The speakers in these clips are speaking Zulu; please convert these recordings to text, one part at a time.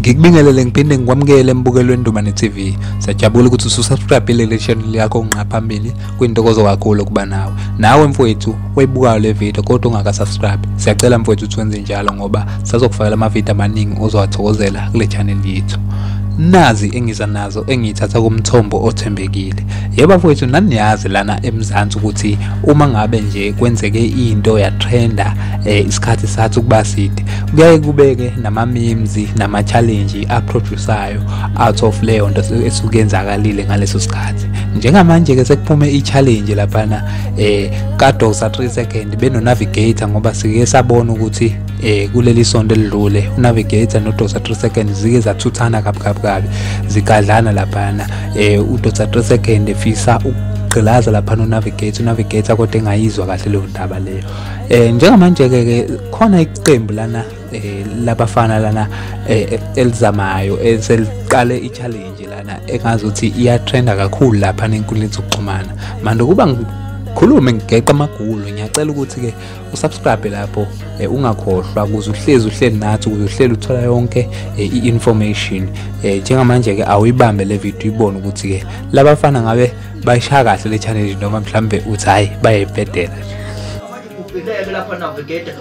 ngikubingelele ngiphinde ngikwamukele embukelweni Ndumane TV sajabula ukuthi ususubscribe le channel yakho ngqa phambili kwintokozo kakhulu ukuba nawe nawe mfowethu oyibukayo le video kodwa ungakasubscribe siyacela mfowethu ukuthi wenze njalo ngoba sazokufakela amavidiyo amaningi ozowathokozela kule channel yethu nazi engiza nazo engiyithatha kumthombo othembekile yebo mfowethu naniyazi lana emzansi ukuthi uma ngabe nje kwenzeke into yatrenda eh, isikhathi sathi ukuba side kuyaye kubeke nama-memes nama-challenge aprodusayo out of leyo nto esuke yenzakalile ngaleso sikhathi njengamanje ke sekuphume i-challenge laphana eh kadosa 3 second benonavigator ngoba sike sabona ukuthi eh kuleli sonto elidlule unavigator nodosa 3 second zike zathuthana kabi kabi kabi zigadlana laphana eh udosa 3 second efisa ukugqilaza laphana unavigator unavigator kodwa engayizwa kahle leyo ndaba leyo eh njengamanje ke khona iqembu lana eh labafana lana eh, elizamayo eh, seliqale i-challenge lana engazi ukuthi iyatrenda kakhulu lapha nenkundleni zokuxhumana manje ukuba khulume ngigeqa amagulu ngiyacela ukuthi-ke usubscribe lapho eh, ungakhohlwa ukuze uhlezi uhleli nathi ukuze uhleli uthola yonke eh, i-information eh, njengamanje-ke awuyibambe le video ibone ukuthi-ke labafana ngabe bayishaya kahle le challenge noma mhlawumbe uthi hhayi bayayibhedela nje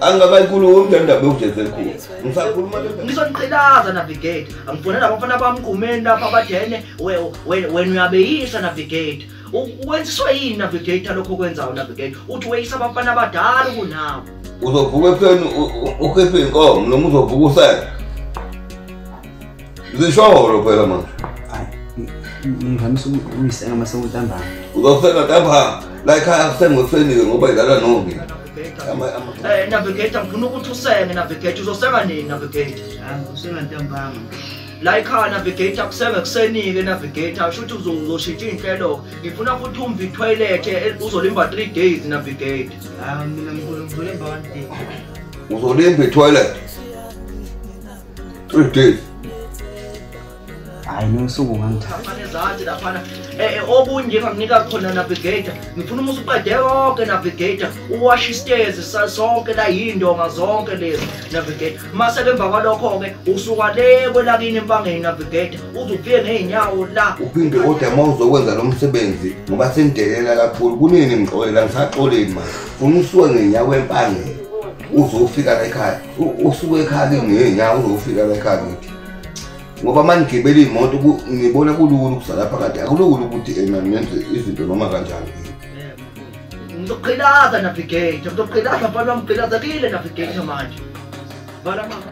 angikakayikhulumi le ndaba ewujeze khulu ngisakhuluma ngisho niqhilaza navigate angifonela abafana bami kumeni lapho abadene wena uyabeyisa navigate wenziswa yini navigator lokho okwenzayo navigate uthi weyisa abafana abadala kunawo uzovuka ekuseni ukhiphe inkomo noma uzovuka usele Zisholo phela manje. Ngimhamisa umsenga masewuntambama. Uzofika ntambama. La ekhaya kusenga usenike ngoba idlala nomi. Eh navigator ngifuna ukuthi usenge navigator uzosenga nini navigator? Ah usenga ntambama. la ikhaya navigator kusenge kusenike navigator shuthi uzoshintsha iy'nhlelo ngifuna futhi umva ithoyilet uzolimba three days navigator uzolimba ithoyilet three days hayi nosuku ngangithaphana eh, eh, okunye enganginika khona navigator ngifuna umusa uqede konke navigator uwashe istezi sonke la yindonga zonke lezi navigator mase ke emva kwalokho-ke usuka le kwelakini empangeni navigator uze ufike ngey'nyawo la uphinde kodwa uma uzokwenza lo msebenzi ngoba sengidelela kakhulu kunini ngixolela ngisaxoleni ma funa usuke ngenyawo empangeni uzofika la ekhaya usuke ekhaya ke ngenyanga uzofika la ekhaya ngithi ngoba uma ngigibela iy'moto ngibona kulula ukuzala phakathi akulula ukuthi ena nenze izinto noma kanjani ngizoqhilaza navigate ngizoqhilaza mfana wamqhilaza kile navigate manje bala mama